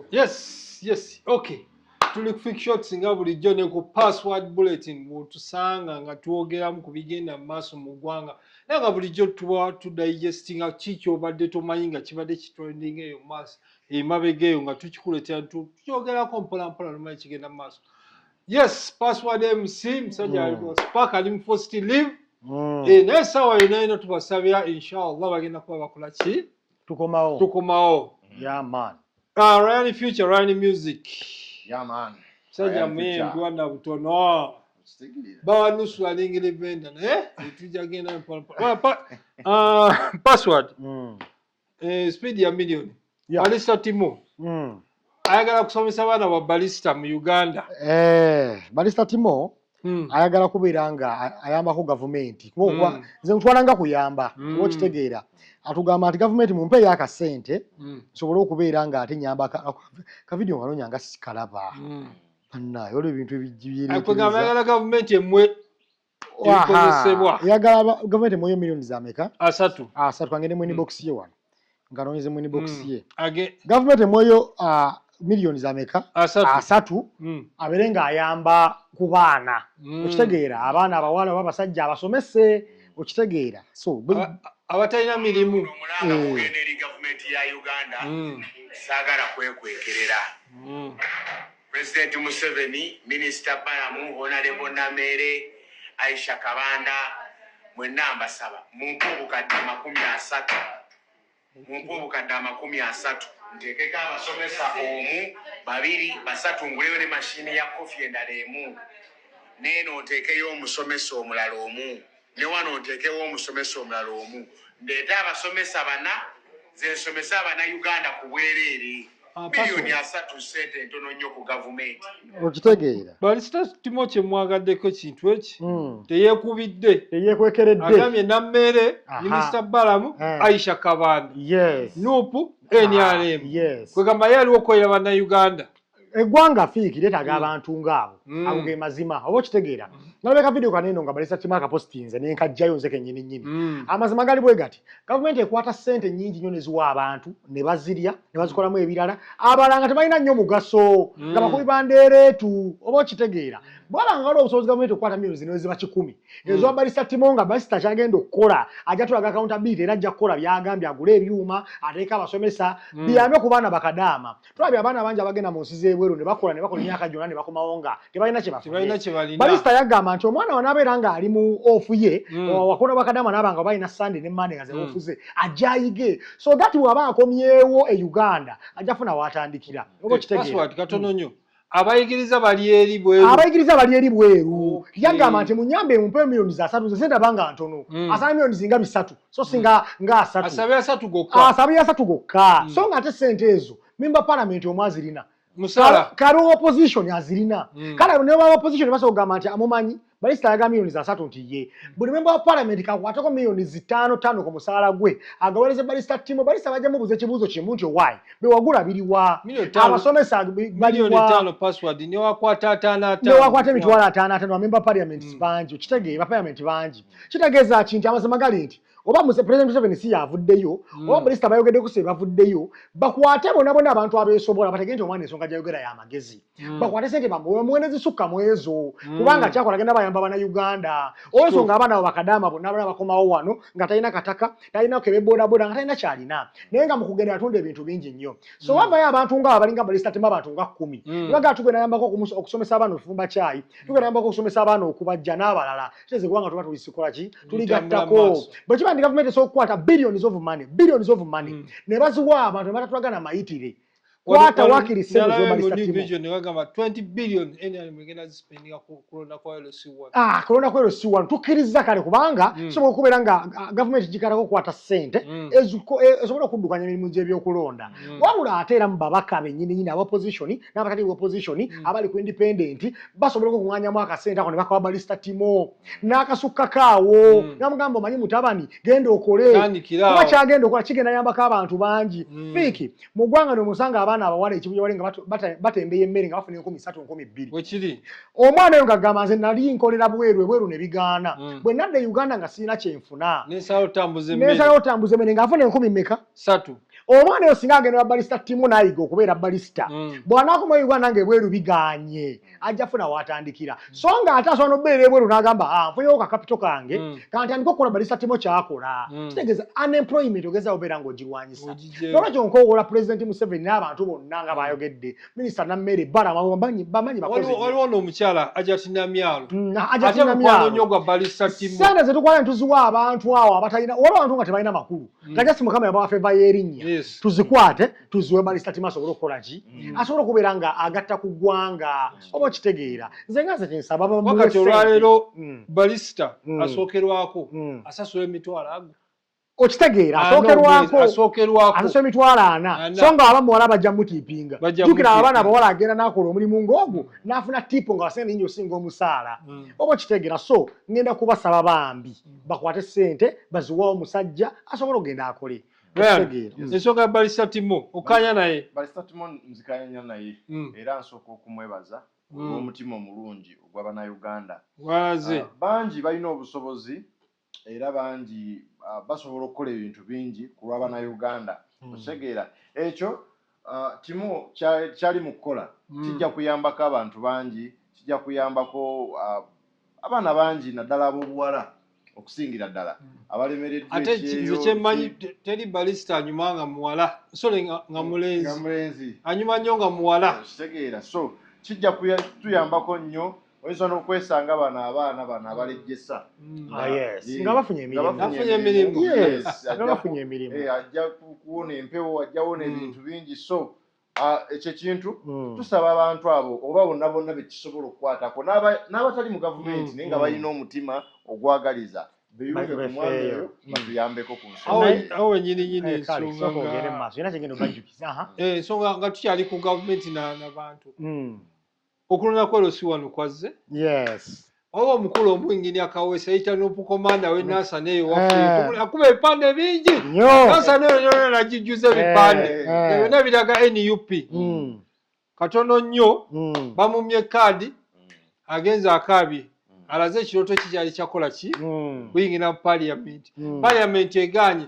Yes, yes. Okay. Tuli ku Fik Shots nga bulijjo ne ku Password Bulletin mutusanga nga twogeramu ku bigenda mu maaso mu ggwanga naye nga bulijjo tuba tudigestinga ki kyobadde tomanyi nga kibadde kitrending eyo mu maaso emabega eyo nga tukikuleetera tukyogerako mpolampola nomanyi kigenda mu maaso yes Password MC musajja mm. alimu spark ali mu first live mm. eh, naye saawa yonayona tubasabira inshallah bagenda kuba bakola ki tukomawo tukomawo yeah man ah Ryan future Ryan music yeah man saja mwendwa na butono bawa nusu ya lingi livenda na eh tuja genda pa pa pa ah password mm. eh speed ya million yeah. alisa timo mm. ayagala kusomesa baana wa balista mu uganda eh, balista timo hmm. ayagala kubeera nga ayambako gavumenti kuba hmm. nze mutwala nga kuyamba kuba hmm. okitegeera atugamba nti gavumenti mumpe eyo akasente nsobole okubeera nga ate nyamba kavidiyo nganonya nga sikalaba banaye olwo ebintu ebijibyereagamba yagala gavumenti emwe ebikozesebwa yagala gavumenti emuweyo millioni zameka asatu asatu angende mu inbox ye wano nga anonyeze mu inbox mm. ye gavumenti emuweyo millioni zameka asatu mm. abeere ng'ayamba ku baana mm. okitegeera abaana abawala oba abasajja abasomese okitegeera so abatalina mirimu omulanga eh. kugenda eri gavumenti ya uganda mm. saagala kwekwekerera mm. President Museveni, Minister Balamu, Honalebo Nameere, Aisha Kabanda, mwenna mbasaba mumpe obukadde amakumi asatu mumpe obukadde amakumi asatu nteekeko abasomesa omu, babiri, basatu nguleyo ne machine ya coffee endala emu neeno nteekeyo omusomesa omulala omu. Ne wano nteekewo omusomesa omulala omu. Ndeete abasomesa bana, nze nsomese Abanayuganda ku bwereere. Milioni asatu ssente ntono nnyo ku gavumenti. Okitegeera. Balisita Timo kye mmwagaddeko ekintu eki, hmm. teyeekubidde. Teyeekwekeredde. Agambye Nammeere, Minisita Balamu, eh. Aisha Kabanda, Nuupu, NRM. Kwegamba ye aliwo okukolera Bannayuganda. eggwanga fiiki letaga mm. abantu ngaabo mm. ago ge mazima oba okitegeera mm. nalaba ka vidiyo kaneeno nga balesa kimu akapositinze nenkajjayo nze kenyini nyini amazima gali bwe gati gavumenti ekwata ssente nyingi nnyo neziwa abantu ne bazirya ne bazikolamu ebirala abalanga tebalina nnyo mugaso nga bakubi bandeereetu oba okitegeera bwabanga waliwo obusobozi gavumenti okukwata milioni zino eziba kikumi hmm. ezowa balisa timo nga basita kyagenda okukola ajja tulaga akawunta biiti era ajja kukola byagambye agule ebyuma ateeka abasomesa hmm. biyambe ku baana bakadaama tulabi abaana bangi abagenda mu nsi z'ebweru ne bakola ne bakola emyaka gyonna ne bakomawo nga tebalina kye bafubalista yagamba nti omwana wanaabeera ng'ali mu ofu ye hmm. wakona bakadama naaba nga balina sande ne mande nga ze ofu hmm. ze ajja ayige so that bw'aba akomyewo e uganda ajja funa waatandikira oba okitegeera katono nnyo abayigiriza bali eri bweru abayigiriza bali eri bweru okay. yagamba nti munyambe mumpe milioni za satu nze ndaba nga ntono mm. asaba milioni zinga bisatu so singa mm. nga asatu asaba ya satu gokka asaba ya satu gokka mm. so nga ate sente ezo mimba palamenti omwe azirina musala kali opposition azirina mm. kale ne wa opposition baso gamba nti amumanyi Minisita ayagala miliyoni za satu nti ye buli memba wa palamenti kakwateko miliyoni zitaano taano ku musaala gwe agawereze balista timo balista bajja mubuuza ekibuuzo kimu nti owaayi bewagula biriwa abasomesa baliwanewakwata emitwalo ataano ataano bamemba palamenti hmm. bangi okitegeera palamenti bangi kitegeeza ki nti amazima gali nti oba muse president Museveni si yavuddeyo mm. oba minisita bayogedde ku sebavuddeyo bakwate bona bona abantu abesobola batege nti omwana ensonga gyayogera ya magezi mm. bakwate sente bamuwe muwe nezisukka mwezo mm. kubanga kyakola agenda bayamba bana uganda olwensonga nga abaana abo bakadaama bonna abana bakomawo wano nga talina kataka talina kebe bodaboda nga talina kyalina naye nga mukugenda yatunda ebintu bingi nnyo so mm. wavayo abantu nga abalinga balisita tema abantu nga kkumi mm. baga tugenda yambako okusomesa abaana okufumba kyayi tugenda yambako okusomesa abaana okubajja n'abalala tuteeze kubanga tuba tulisikola ki tuligattako bwe kiba ndi gavumenti esobola okukwata billions of money billions of money mm. ne baziwa abantu ne batatulagana mayitire kwata wakiri sente zomalisa kulonda ku lc one tukkiriza kale kubanga mm. sobola okubeera nga ah, gavumenti gikalako okukwata sente mm. e, esobola okuddukanya emirimu gy'ebyokulonda mm. wabula ate era mu babaka bennyini nyini abapositioni n'abatali ku opposition mm. abali ku independent basobola okuŋŋanyamu akasente ako ne bakawa balista timo n'akasukka kaawo mm. namugamba omanyi mutabani genda okole kuba kyagenda okola kigenda yambako abantu bangi mm. fiiki mu ggwanga ne musanga abaana abawala ekibuya wali nga batembeya emmere nga bafuna enkumi satu nkumi bbiri omwana oyo ngagamba nze nali nkolera bweru ebweru ne bigaana bwe nadda e uganda nga sirina kyenfuna nensalawo otambuza emmere ng'afuna enkumi meka satu omwana oyo singa agenda babalista timu nayiga okubeera balisita mm. bwanakoma uganda nga ebweru biganye ajja funa watandikira mm. so nga ate asobola nobeera ebweru nagamba ah, nfunyewo kakapito kange mm. kantandika okukola balista timu kyakola mm. kitegeza unemployment ogeza obeera nga ogirwanyisa nolwekyo nkowola pulezidenti museveni n'abantu bonna nga mm. bayogedde minisita nammere balabamanyi bakoziwaliwo noomukyala ajati namyalo mm, ajati namyalo sente zetukwala netuziwa abantu awo abatalina waliwo abantu nga tebalina makulu Mm. nga just mukama yabawa feva yerinnya tuzikwate tuziwe balistatima asobole okukola ki mm. asobole okubeera nga agatta ku ggwanga oba okitegeera nze nga nze kyensaba wakati olwaleero mm. balisita asookerwako asasula emitwalo ago okitegeera asookerwakoasookerwakoasasula emitwalo ana so nga aba muwala bajja mutiipinga jukira abaana abawala agenda nakola omulimu ngaogu nafuna tiipo nga wasente nyingi osinga omusaala oba okitegeera so ngenda kubasaba bambi mm. bakwate sente baziwawo musajja asobola ogenda akole mm. ensonga ya balisa timo okanya naye balisa timo nzikanyanya naye mm. era nsooka okumwebaza mm. olwomutima omulungi ogwa banauganda waze ah, bangi balina obusobozi era bangi ah, basobola okukola ebintu bingi ku lwa banauganda otegeera ekyo Uh, kimu kyali mu kukola mm. kijja kuyambako abantu bangi kijja kuyambako uh, abaana bangi naddala ab'obuwala okusingira ddala mm. abalemereddwaate nze kyemmanyi teri balisita anyuma nga muwala sole nga mulenzi anyuma nnyo nga muwala kitegeera so kijja tuyambako nnyo oyinza nokwesanga bano abaana bano abalejjesa mm. ah, nga bafunye emirimu eh, ajja kuwona empewo ajja wona mm. ebintu bingi so ah, ekyo ekintu mm. tusaba abantu abo oba bonna bonna bekisobola okukwatako n'abatali mu gavumenti naye nga balina omutima ogwagaliza beyunge ku mwana oyo batuyambeko ku nsoawo wenyini nyini ensonga nga tukyali ku gavumenti n'abantu okulonda kwalo si wano kwazze yes oba omukulu omu engini akawesa yita nopukomanda we nasa neyo wakuba ebipande bingi nasa neyo yona nagijjuza ebipande byona biraga nup hmm. katono nnyo hmm. bamumye kaadi agenza akaabye hmm. alaze ekirooto kikyali kyakola ki kuyingira mu paliamenti paliamenti eganye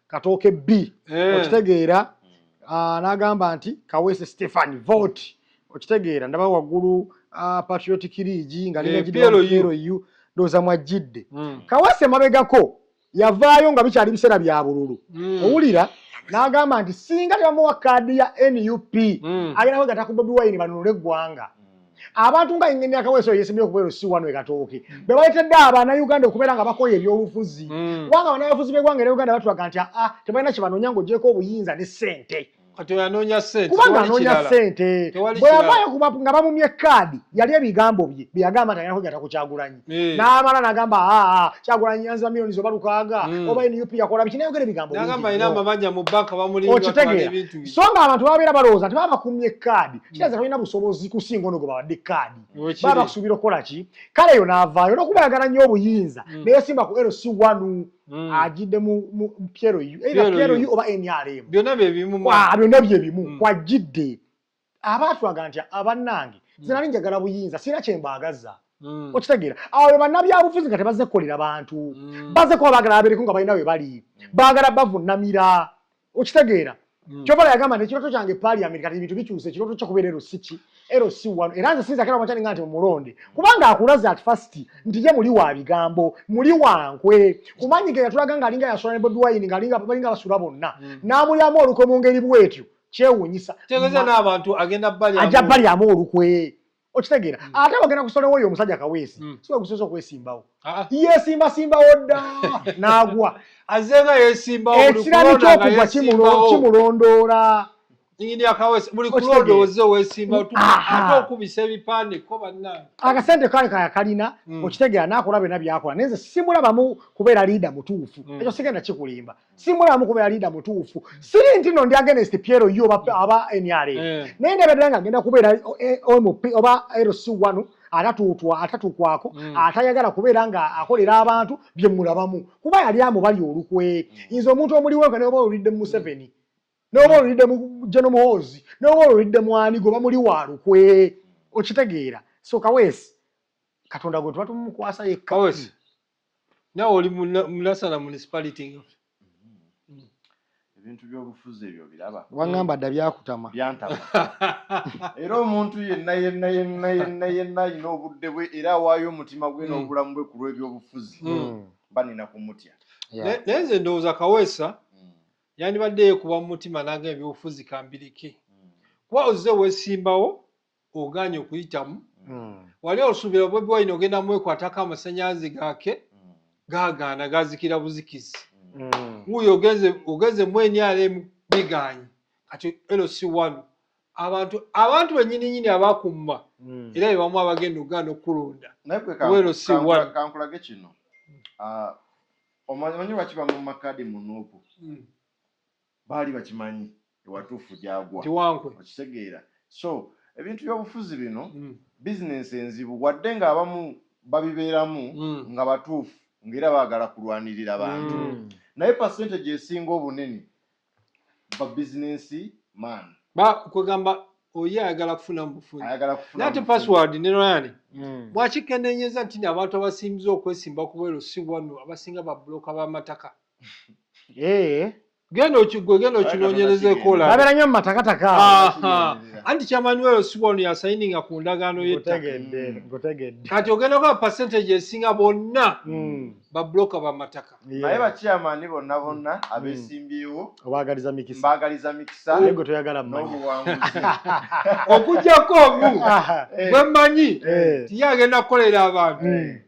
katooke b eh. okitegeera ah, n'agamba nti kaweese stephen vote okitegeera ndaba waggulu ah, patriotic leagi nga linagidalu eh, ndowooza mwajjidde hmm. kaweese emabegako yavaayo nga bikyali biseera bya bululu hmm. owulira n'agamba nti singa tebamuwa kaadi ya nup hmm. agenda kwegata ku bobi wine banunule eggwanga abantu nga ingeni akaweso yesimye okubero si wano ekatooke mm. bebaletedde abana uganda okubeera nga bakoye ebyolufuzi mm. kubanga banabafuzi begwanga era uganda batulaga nti aa ah, tebalina kyebanonya ngaogyeko obuyinza ne sente kubanga anoonya sente bweyavaayo nga bamumye kaadi yali ebigambo bye byeyagamba nti ayina kwegata kukyagulanyi eh. n'amala nagamba aa ah, ah, kyagulanyi yanziba milioni zoba lukaaga hmm. oba nup yakola biki nayogera ebigambo okitegeera so nga abantu babeera balowooza nti baba bakumye kaadi hmm. kiraza talina busobozi kusinga ono gwe bawadde kaadi baba bakusuubira okukola ki kale yo n'avaayo olwokuba yagala nnyo obuyinza hmm. neyesimba ku lc one Mm. ajidde mu pieroyu either pieroyu oba nrm byonna byebimu ah, byonna byebimu mm. kwajidde aba atulaga nti abannange nze nali njagala buyinza sirina kye mbaagazza hmm. okitegeera awo be bannabyabufuzi nga tebazze kukolera bantu hmm. bazze kuba baagala abeereko nga balina we bali hmm. baagala bavunnamira okitegeera kyova yagamba nti ekirooto kyange paliament kati ebintu bikyuse ekirooto kyo kubeera ero si ki ero si wano era nze sinza kera omakyani nga nti mumulonde kubanga akulaze at first nti ye muli wa bigambo muli wankwe kumanyi ge yatulaga nga alinga yasula ne bobi wine nga alinga balinga basula bonna n'amulyamu olukwe mu ngeri bwetyo kyewunyisa tegeza n'abantu agenda bali aja bali amu olukwe okitegeera mm. ate bagenda kusolewo oyo omusajja kaweesi mm. siwe gusoza okwesimbawo ah, ah. yesimba simbawo dda n'agwa azenga yesimbawo ekirani ky'okugwa kimulondoola akasente kale kayakalina mm. okitegeera n'akola byona byakola naye nze simulabamu kubeera liida mutuufu ekyo sigenda kikulimba simulamu kuba yaliida mutuufu siri nti no ndi against piero yo aba nra eh. naye ndabadira nga agenda kubeera eh, omp oba rc wanu atatuutwa atatuukwako mm. atayagala kubeera nga akolera abantu byemulabamu kuba yali amubali olukwe mm. nze omuntu omuliwo nga noba olulidde mumuseveni mm. noba olulidde mu jeno muhoozi noba olulidde mwani goba muli wa lukwe okitegeera so kawesi katonda gwe tuba tumukwasa yekka nawe oli munasala municipality nga mm-hmm. ebintu byobufuzi ebyo biraba wangamba dda byakutama byantama era omuntu yenna yenna yenna yenna yenna alina obudde bwe era awaayo omutima gwe mm. n'obulamu bwe ku lw'ebyobufuzi mm. mba nina kumutya naye nze ndowooza kaweesa mm. yandibadde yekuba mu mutima nanga ebyobufuzi kambirike kuba ozze wesimbawo oganye okuyitamu mm. wali osubira bobi wine ogenda mwekwatako amasanyazi gake mm. gagaana gazikira buzikizi mm. wuyo ogenze ogenze mwenyalem biganye kati lc one abantu abantu benyini nyini abakumma mm. era bebamu abagenda ogana okulonda lc one kankulage kino uh, omanyi lwaki bamumma kadi munupu mm. baali bakimanyi ewatuufu gyagwa okitegeera so ebintu byobufuzi bino mm. bizinensi enzibu wadde nga abamu babibeeramu mm. nga batuufu ngaera baagala kulwanirira bantu mm. naye pasente gyesinga obunene ba bizinensi man kwegamba oye ayagala kufuna mubufunaate password ne ryan mm. bwakikenenyeza nti abantu abasinbiza okwesimba kubwero si wanu abasinga babuloka bamataka Eh. genda okigwe genda okinonyereza ekola babera nyo matakataka anti chairman wewe siwa ono yasayininga ku ndagaano yettaka mm. kati ogenda kwa percentage esinga bonna mm. babloka bamataka naye bachairman bonna bonna mm. abesimbyewo obagaliza mikisa mbagaliza mikisa yego toyagala mmanyi okujjako omu gwemanyi eh. tiye agenda kukolera abantu eh.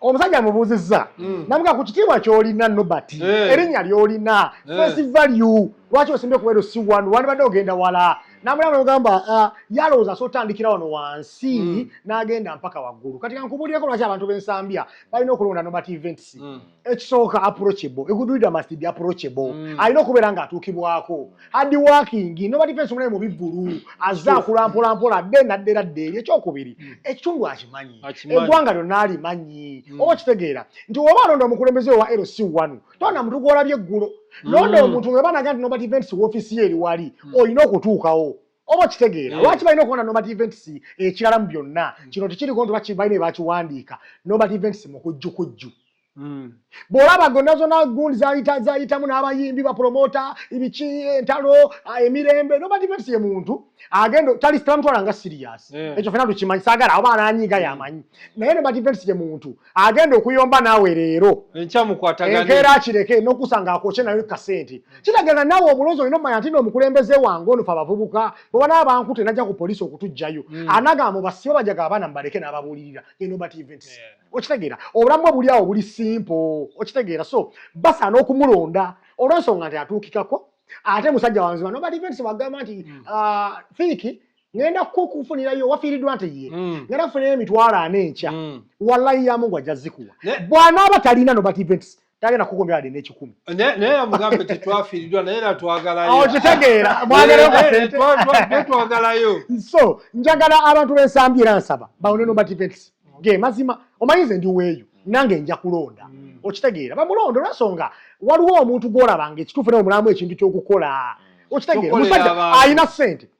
omusajja amubuuzizza hmm. namuga ku kitiibwa kyolina nobert eh. erinnya lyolina eh. face value lwaki osimbye kubeero si wanu wandibadde ogenda wala namulaba nogamba ah, yalowooza so otandikira wano wansi hmm. n'agenda mpaka waggulu kati kankubulireko lwaki abantu b'ensambya balina okulonda nobert events hmm. ekisooka approachable egudulida must be approachable alina okubeera ng'atuukibwako hard working nobody face mulaye mubivulu azza akula mpola mpola adde naddera dderi ekyokubiri mm. ekitundu akimanyi eggwanga lyonna alimanyi mm. oba kitegeera nti oba alonda omukulembeze wa lc wanu tona muntu gwolabye eggulo mm. londa omuntu nga banaga nti nobody events wofiisi ye eri wali olina okutuukawo oba kitegeera lwaki balina okubona nobody events ekirala mu byonna kino tekiriko nti bakibalina ebakiwandiika nobody events mukujjukujju hmm. bwolaba gonna zona gund zayita zayitamu n'abayimbi bapromota ibiki entalo ah, emirembe nobadivensi ye muntu agenda tali tamutwala nga sirias eh. ekyo fena tukimanyi sagala oba ananyiga yamanyi naye nobadivensi ye muntu agenda okuyomba naawe leero enkeera kireke nokusanga akwokye nayo kasente kiragana naawe obulozi olina omanya nti noomukulembeze wange onofe abavubuka oba naabankute najja ku polisi okutujjayo hmm. anagamba basiba bajaga abaana mubaleke n'ababuulirira enobadivensi okitegeera obulamu bwe buli awo buli simpo okitegeera so basaana okumulonda olwensonga nti atuukikako ate musajja wanzima nobali venti wagamba nti hmm. ah, fiiki ngenda kukufunirayo wafiiriddwa nti ye hmm. ngenda kufunirayo emitwalo ana enkya hmm. wallayi yamungu ajja zikuwa bwanaaba talina nobati venti tagenda kukuumira wadde n'ekikumi naye amugambe tetwafiiridwa naye era twagalayo okitegeera oh, mwagalayo kasente twagalayo so njagala abantu b'ensambi era nsaba bawone no bativents ge mazima omanyi nze ndi weeyo nange nja kulonda mm. okitegeera bamulonda olwensonga waliwo omuntu gw'olabanga ekituufu naye omulamu ekintu ky'okukola mm. okitegeera omusajja alina ssente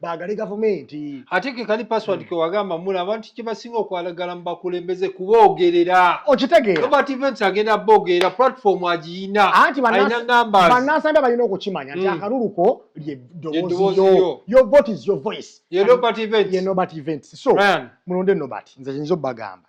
bagale gavumenti ate ke kali password hmm. ke wagamba mulaba nti kibasinga okwalagala mubakulembeze kuboogerera okitegeera robert events agenda boogerera platform agiyina alina numbers bannansambe balina okukimanya nti hmm. akalulu ko lye ddoboozi yo your vote is your voice ye robert events ye robert events so Ryan. mulonde nobert nze nyinza obagamba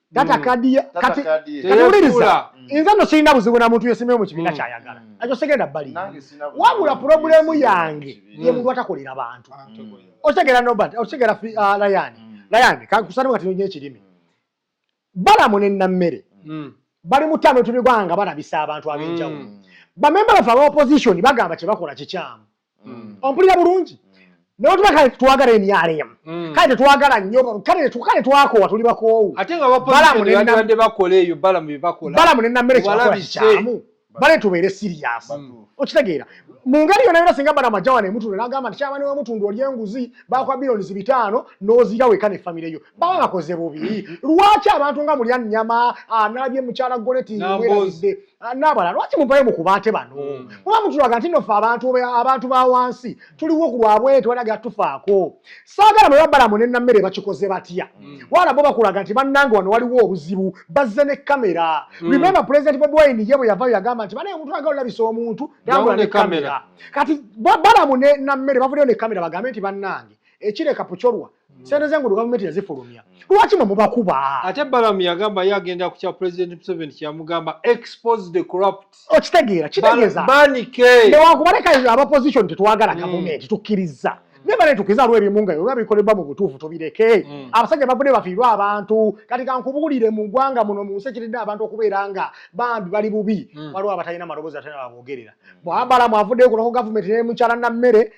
data mm. kadi kati kati uliriza mm. inza no sinda buzibu na muntu yesime mu kibina mm. kya yagala ajo segenda bali wabula problem yange ye muntu atakolera bantu osegera no but osegera fi uh, layan layan ka kusana wakati nyo kirimi bala mune na mere bali mutano tuli gwanga bana bisa abantu abinjawo bamemba bafa opposition bagamba kye bakola kikyamu mm. ompulira bulungi naye otuba kale tetwagala emyala emu mm. kale tetwagala nnyo kale twakoowa tuli bakoowu balamu nenamere kyamu bale tubeere siriyasi okitegeera mu ngeri yona yona singa balamu ajja wano emutundu nagamba nti kyabani wemutundu oli enguzi bakwa bilionisi bitaano nozira weka ne famire yo baba bakoze bubi lwaki abantu nga mulya nnyama analabye mukyala goneti werabidde Ah, nabala lwaki muvayo mukubaate bano hmm. kuba mutulaga nti nofe abantu ba wansi tuliwo ku lwabwe tewali gatufaako saagala mwe babalamu ne nammere bakikoze batya hmm. wala bo bakulaga nti bannange wano waliwo obuzibu bazze ne kamera hmm. remembe pulezidenti bobi wine ye bwe yavayo yagamba nti banaye omuntu aga olabisa omuntu tambula ne kamera kati balamu ne nammere bavudeyo ne kamera bagambe nti bannange ekireka pucolwa Mm. sente zengudo gavumenti yazifulumya mm. lwaki mwe mubakuba ate balamu yagamba ye agenda ku kya president museveni kyeyamugamba expose the corrupt okitegeera kitegeezanewakuba leka abaposition tetwagala mm. gavumenti tukkiriza naye bale tukiza lwe ebimu nga oba bikolebwa mu butuufu tubireke abasajja bavune bafiirwa abantu kati kankubuulire mu ggwanga muno mu nsi ekiridde abantu okubeera nga bambi bali bubi waliwo abatalina maloboozi atalina baboogerera bwabalamu avuddeyo kulako gavumenti nemukyala nammere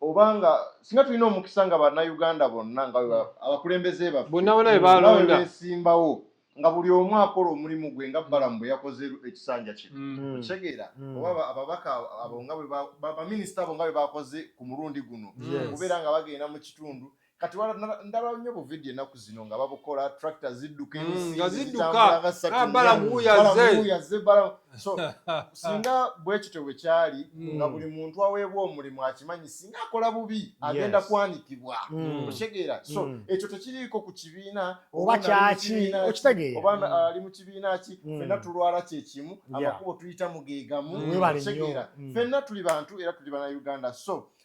oba nga singa tulina omukisa nga bannayuganda bonna nga hmm. abakulembeze baffebesimbawo nga buli omu akola omulimu gwe nga balamu bwe yakoze ekisanja kino hmm. okitegeera hmm. oba ababaka abo nga baminisita abo nga bwe bakoze ku mulundi guno okubeera nga bagenda mu kitundu kati ndaba nnyo bu video enaku zino nga babukola tractor zidduka mm, nga ziddukabalamuyaze so singa bwekityo bwe kyali mm. nga buli muntu aweebwa omulimu akimanyi singa akola bubi agenda kwanikibwa mm. okitegeera so ekyo tekiriiko ku kibiina oba kyaki okitegeera oba ali mu kibiina ki fenna tulwala kyekimu amakubo tuyita mugeegamu okitegeera fenna tuli bantu era tuli bana uganda so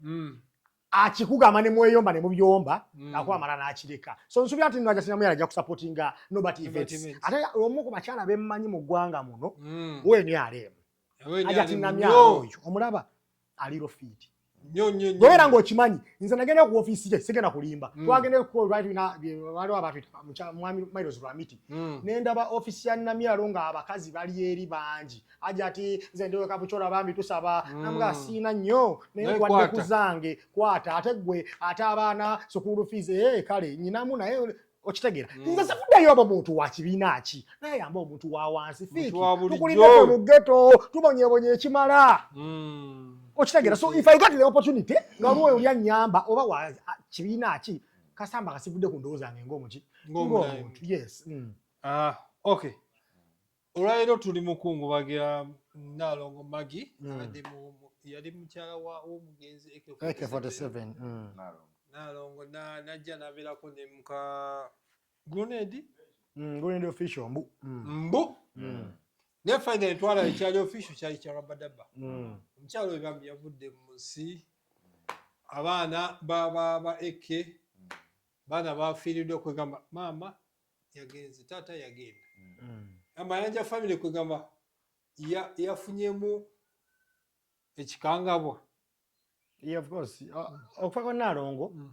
mm. akikugamba ne mweyomba ne mubyomba mm. nakuba mala n'akireka so nsuubira nti nno ajasina muyala ajja kusapotinga nobert events ate omu ku bakyala bemmanyi mu ggwanga muno mm. weni aleemu ajatinamyala oyo omulaba ali rofiiti gweera ngaokimanyi nze nagenda ku ofiisi ye sigenda kulimba mm. twagendewaliwo abatmwami miles lwamiti mm. nendaba ofiisi ya namyalo nga abakazi bali eri bangi aja ati nze ndiwe kabuchora bambi tusaba mm. namuga siina nnyo naye kwadde kuzange kwata ate gwe ate abaana sukulu fees ee eh, kale nyinamu naye okitegeera mm. nze sifuddeyo oba muntu wa kibiina ki naye yamba omuntu wa wansi fiiki tukulideko mu geto tubonyebonye ekimala mm. okitegeera so if i got the opportunity nga waliwo mm. oli annyamba oba wa kibiina ki kasamba kasivudde ku ndowooza nge ngaomuki ngaomuntu yes ah, okay Olwaleero tuli mu kungubagira Nnaalongo Maggie mm. abadde yali mukyala w'omugenzi AK47 mm. Nnaalongo n'ajja n'abeerako ne muka Grenade mm, Grenade official mbu mbu naye fayina entwala ekyali official kyali kya rabadaba omukyala oyo bambi yavudde mu nsi abaana ba ba ba AK baana bafiiriddwa kwegamba maama yagenze taata yagenda amayanja famire kwegamba yafunyemu ekikangabwa okufa kwa naalongo mm.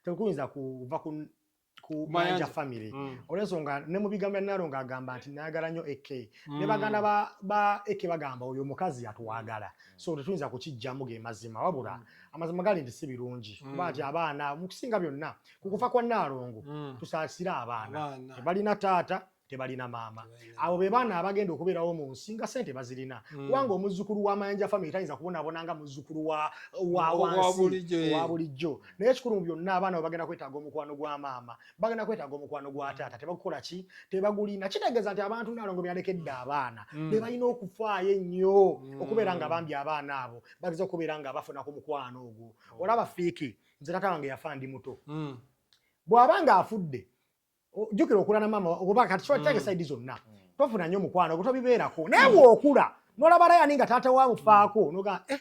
tekuyinza kuva ku mayanja famire mm. olwensonga ne mu bigambo bya naalongo agamba nti nayagala nnyo ek mm. ne baganda ba ek bagamba oyo omukazi yatwagala so tetuyinza kukijjamu ge mazima wabula amazima gali nti si birungi kuba nti abaana mu kusinga byonna ku kufa kwa nnaalongo mm. tusaasire abaana tebalina taata tebalina maama abo be baana abagenda okubeerawo mu nsi nga sente bazirina mm. kubanga omuzzukulu wa mayanja famiry tayinza kubonaabona nga muzzukulu wa wansi wa bulijjo naye ekikulu mu byonna abaana bwe bagenda kwetaaga omukwano gwa maama bagenda kwetaaga omukwano gwa mm. taata tebakukola ki tebagulina kitegeeza nti abantu naalongo byalekedde abaana mm. be balina okufaayo ennyo okubeera nga bambi abaana abo bageza okubeera nga bafuna ku mukwano ogwo oh. olaba fiiki nze tata wange yafa ndi muto mm. bw'aba ng'afudde jjukira okula na maama oba kati kiba kitange mm. saidi zonna mm. tofuna nnyo mukwano gwe tobibeerako naye mm. bw'okula n'olaba rayani nga taata wa mufaako mm. noga eh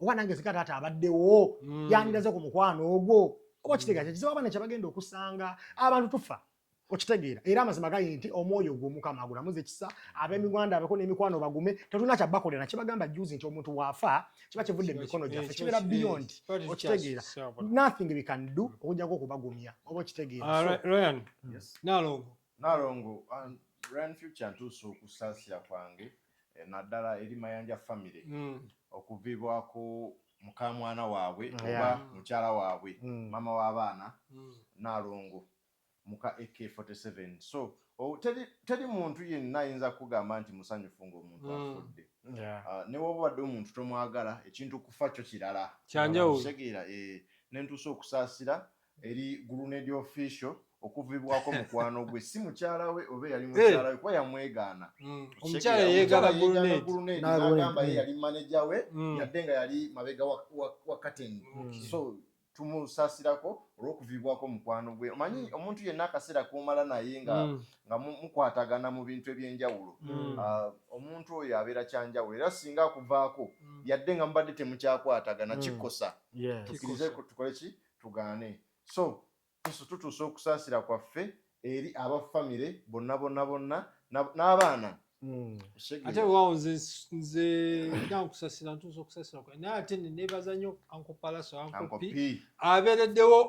oba nange zika taata abaddewo mm. yandiraze ku mukwano ogwo oba kitegeeza kizibu abaana kyebagenda okusanga abantu tufa okitegeera era amazima gali nti omwoyo ogwo omukama agulamuza ekisa abemigwanda abeko nemikwano bagume tetulina kyabakolera kyebagamba juzi nti omuntu waafa kiba kivudde mumikono gyaffe kibeera beyond okitegeera nothing we can do okujjako okubagumya oba okitegeera ah, nalongo nalongo um, ryan future ntuusa okusaasira kwange eh, naddala eri mayanja family hmm. okuvibwako mukamwana waabwe oba mukyala waabwe hmm. maama w'abaana hmm. nalongo muka AK forty seven so oh teri teri muntu yenna ayinza kukugamba nti musanyufu nga omuntu afudde Yeah. newoba obadde omuntu tomwagala ekintu okufa kyo kirala Kyanjawulo. okitegeera eh nentuusa okusaasira eri guluneedi official okuvibwako mukwano gwe si mukyala we oba eyali mukyala we kuba yamwegaana Mm. Omukyala Okitegeera, eyeegana omukyala yeegaana guluneedi. guluneedi N'agula n'agamba ye empindi. yali maneja we Mm. yadde nga yali mabega wa- wa wa kateni Okay. so tumusasirako olw'okuviibwako mukwano gwe omanyi mm. omuntu yenna akaseera komala naye nga mm. nga mukwatagana mu bintu eby'enjawulo mm. ah, omuntu oyo abeera kyanjawulo era singa akuvaako yadde nga mubadde temukyakwatagana kikosa tukirize tukole ki tugaane so yesu tutuusa okusaasira kwaffe eri aba famire bonna bonna bonna n'abaana hmm. ate wewaawo nze nze nina nkusasira ntuusa okusasira kwa naye ate nenebaza nnyo ankopalaso ankopi abeereddewo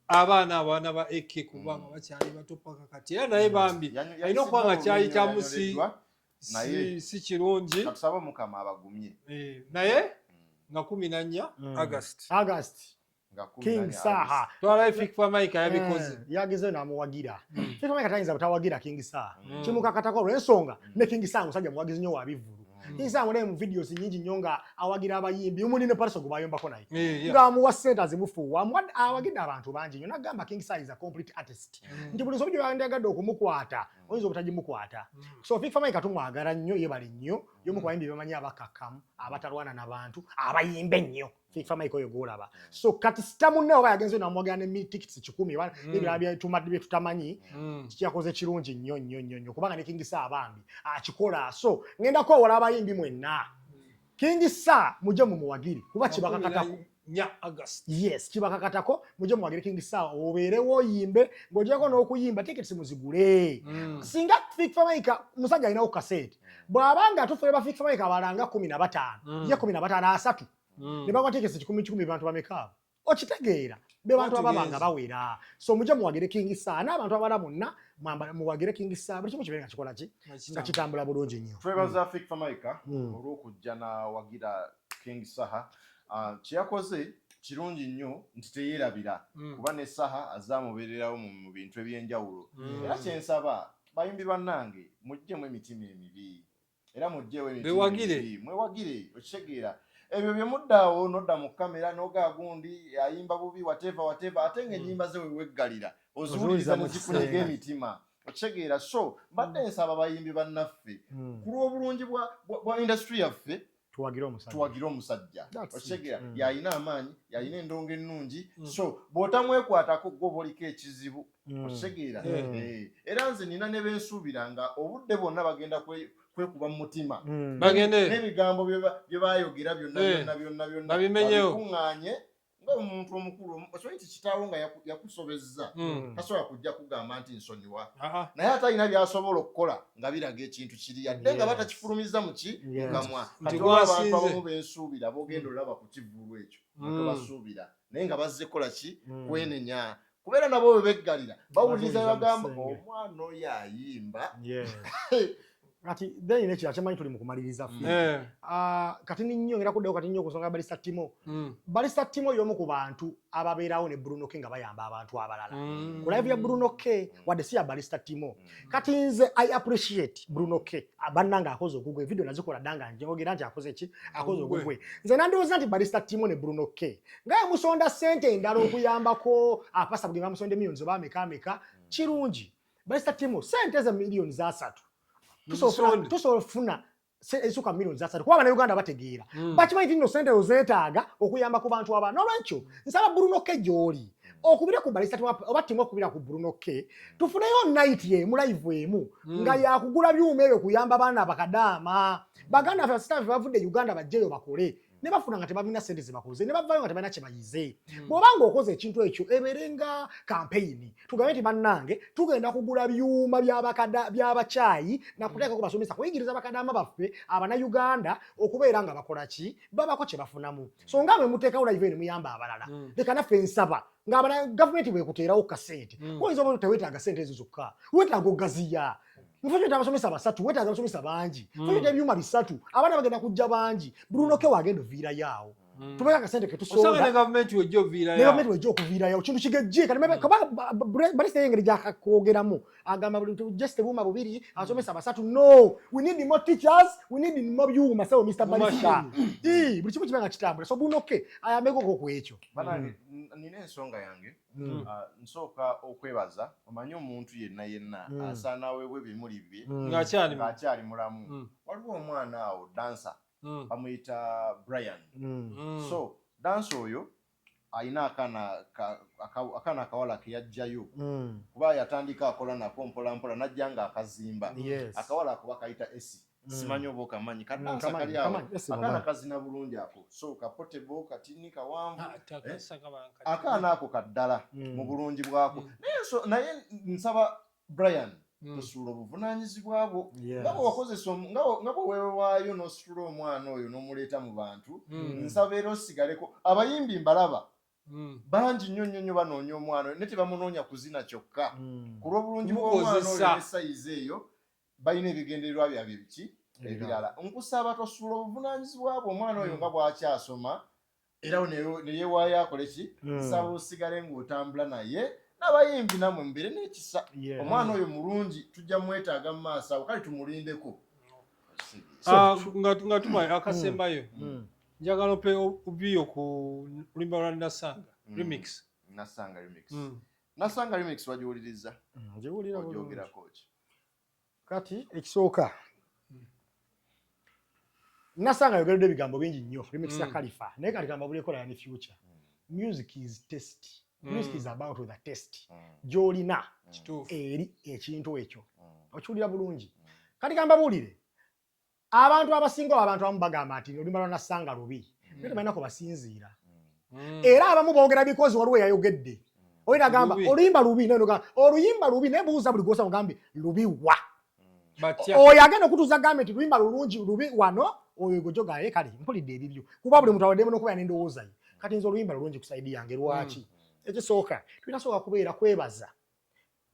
abaana abaana ba ak kubanga hmm. bakyali bato paka kati era naye hmm. bambi alina okuba nga kyayitamu si si kirungi naye eh, nga kumi na nnya agasti King Saha twala Fik Famaica eh, yabikoze yagezeyo namuwagira hmm. Fik Famaica tayinza butawagira King Saha hmm. kimukakatako olw'ensonga hmm. ne King Saha musajja muwagizi nnyo wa bivvulu King Saha mune mu videos nyingi nnyo nga awagira abayimbi omuli ne Paris Ogbu bayombako naye eh, nga amuwa ssente azimufuuwa awagidde abantu bangi nnyo nagamba King Saha is a complete artist nti buli nsobi gyoyandiyagadde okumukwata oyinza obutagimukwata so Fik Famaica tumwagala nnyo yebale nnyo yomu ku bayimbi bemanyi abakakkamu abatalwana na bantu abayimba ennyo FIFA Mike oyo gwolaba mm. so kati sita munne oba yagenze namwogera ne mil tickets kikumi oba mm. ebirala byetumadde bye tutamanyi mm. kiyakoze kirungi nnyo nnyo nnyo nnyo kubanga ne King Saha bambi akikola so ngenda kwewola abayimbi mwenna King Saha muje mumuwagiri kuba kibakakatako nya August yes kibakakatako muje muwagire King Saha obeerewo oyimbe ng'ogyeko n'okuyimba tickets muzigule singa FIFA Mike musajja alinawo kaseti bw'aba nga atuufu ne bafiika famire kabala nga kumi na bataano mm. ye kumi na bataano asatu mm. ne bakwatiikesa kikumi kikumi bantu bameka abo okitegeera be bantu ababa nga bawera so mujja muwagire kingi saa n'abantu abala bonna muwagire kingi saa buli kimu kibeere nga kikola ki nga kitambula bulungi nnyo twebaza mm. fik famaika olw'okujja nawagira kingi saha ah, kyeyakoze kirungi nnyo nti teyerabira kuba ne saha azamubeererawo mu bintu eby'enjawulo era kyensaba Bayimbi bannange mujjemu emitima emibi era mujjeewo emitima emibi mwewagire okitegeera ebyo bye muddaawo nodda mu kamera noga gundi ayimba bubi wateva wateva ate nga ennyimba hmm. ze weweggalira oziwuliriza ne zikunyiga emitima okitegeera so mbadde nsaba bayimbi bannaffe hmm. ku lw'obulungi bwa indasitule yaffe tuwagire omusajja tuwagire omusajja okitegeera mm. yalina amaanyi yalina endongo ennungi mm. so bw'otamwekwatako gwoba oliko ekizibu mm. okitegeera mm. eh, era nze nina ne bensuubira nga obudde bwonna bagenda kwekuba mu mutima mm. bagende n'ebigambo bye bayogera byonna eh. byonna byonna byonna babimenyewo bikuŋŋaanye nga omuntu omukulu okimanyi nti kitaawo nga yakusobezza hmm. tasobola kujja kugamba nti nsonyiwa naye ate alina byasobola okukola nga biraga ekintu kiri yadde nga batakifulumiza muki mukamwa abantu abamu bensuubira bogenda hmm. olaba ku kivulu ekyo hmm. tebasuubira naye nga bazze kola ki kwenenya kubeera nabo bwe beggalira bawuliriza bagamba omwana oyo ayimba kati then ne kira kyamanyi tuli mukumaliriza fi mm. eh. ah, kati ninyo era kuddayo kati ninyo kusonga bali satimo mm. bali satimo yomu ku bantu ababeerawo ne Bruno K nga bayamba abantu abalala mm. ku live ya Bruno K wadde si ya bali satimo kati nze i appreciate bruno k bannange akoze ogugwe evidiyo nazikola danga njogera nti akoze ki akoze ogugwe nze nandowooza nti barista timo ne bruno k nga yamusonda sente endala okuyambako apasa bugenda musonda emiyoni zoba ameka ameka mm. kirungi barista timo sente ze miliyoni zasatu tusobola ofuna ezisuka milioni zasatu kuba banauganda bategeera mm. bakimanyi ti nno sente ezo zeetaaga okuyamba ku bantu abana olwekyo nsaba bruno ke gyoli okubire ku balisa oba timu okubira ku bruno ke tufuneyo nayiti emu live emu mm. nga yakugula byuma ebyo kuyamba baana bakadaama baganda fe basitafe bavudde uganda bajjeyo bakole ne bafuna nga tebalina sente zebakoze ne bavayo nga tebalina kyebayize hmm. bwoba nga okoze ekintu ekyo ebeere nga kampeyini tugambe nti bannange tugenda kugula byuma byabakyayi nakuteekako hmm. basomesa kuyigiriza bakadama baffe abanauganda okubeera nga bakola ki babako kyebafunamu hmm. so nga bwe muteekawo live ne muyamba abalala leka naffe nsaba ngabana gavumenti bwekuteerawo kasente mm. oyinza oba tewetaaga sente ezo zokka wetaaga ogaziya Mufanye hmm. abasomesa basatu, weta abasomesa bangi. Hmm. Fanye ebyuma bisatu. Abaana bagenda kujja bangi. Bruno hmm. ke wagenda vira yao. Tubeka kasente ketu so. Osanga ne government wejo vira yao. Ne government wejo kuvira yao. Kintu kigejje kana mebe kaba bali sey ngeri jaka kogera mu. Agamba buli just ebyuma bubiri abasomesa basatu. No, we need more teachers, we need more you masawo Mr. Balisa. Eh, buli kimu kibanga kitambula. So Bruno ke ayameko ko kwecho. Bana nine nsonga yange. Mm. Ah, nsooka okwebaza omanyi omuntu yenna yenna mm. asaana aweebwa ebimuli bye mm. ng'akyali mulamu waliwo omwana awo dansa bamuyita brian so dansa oyo alina akaana akaana akawala ke yajjayo kuba yatandika akola nako mpolampola najja nga akazimba akawala ako bakayita esi Mm. simanyi oba okamanyi mm, kadansa kali awo akaana kazina bulungi ako so kapotebo katini kawanvu ah, eh? akaana ako kaddala mm. mu bulungi bwako naye nsaba brian tosuula obuvunanyizibwa bwo nga bwewakozesa nga bwewewaayo nositula omwana oyo nomuleeta mu bantu nsaba era osigaleko abayimbi mbalaba Hmm. bangi nnyo nnyo nnyo banoonya omwana oyo naye tebamunoonya kuzina kyokka hmm. ku lw'obulungi bw'omwana oyo ne sayizi eyo balina ebigendererwa byabye biki ebirala nkusaba tosuula obuvunanyizibwa bwe omwana oyo mm. nga bwakyasoma era neyewaayo akole ki mm. nsaba osigale ngaotambula naye nabayimbi namwe mubeere nekisa omwana oyo mulungi tujja mwetaaga mu maaso awo kale tumulindeko ah, nga tuma mm. akasembayo njagala ope obiyo ku lulimba lwa nasanga remix nasanga remix nasanga remix wagiwuliriza ogyogerako ki kati ekisooka nasanga ayogeredde ebigambo bingi nnyo remixer mm. kalifa naye kati kambabulekola yani future mm. music is test mm. music is about the test mm. gyolina mm. eri ekintu ekyo mm. okiwulira bulungi mm. kati kambabuulire Abantu abasinga oba abantu abamu bagamba nti oluyimba lwa Nassanga lubi naye tebalina kwe basinziira mm. era abamu boogera bikozi waliwo eyayogedde mm. oli nagamba oluyimba lubi oluyimba lubi naye buuza buli gwosa ogambye lubi wa mm. oyo agenda okutuuza gambye nti luyimba lulungi lubi wano oyo gojogaye kale mpulidde ebibyo kuba buli muntu awaddemu n'okubeera n'endowooza ye kati nze oluyimba lulungi ku saidi yange lwaki ekisooka tulina sooka kubeera kwebaza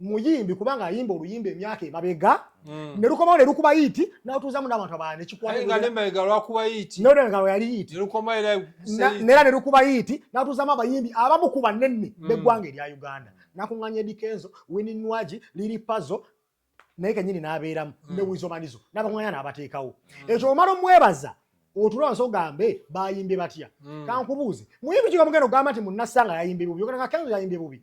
muyimbi kubanga ayimba oluyimba emyaka emabega mm. ne lukomawo ne lukuba yiiti n'atuuzamu n'abantu abalala nekikwatengalweyaliyiitinera ne lukuba yiiti n'atuuzamu abayimbi abamu ku banene mm. b'eggwanga erya uganda nakuŋŋanya edikenzo wini nwagi liri pazo naye kenyini n'abeeramu mm. ne wizomanizo n'abakuŋŋanya n'abateekawo ekyo omala omwebaza otulaba nso gambe bayimbye batya kankubuuze muyimbi kigamugenda ogamba nti munnasanga yayimbye bubi ogenda nga kenzo yayimbye bubi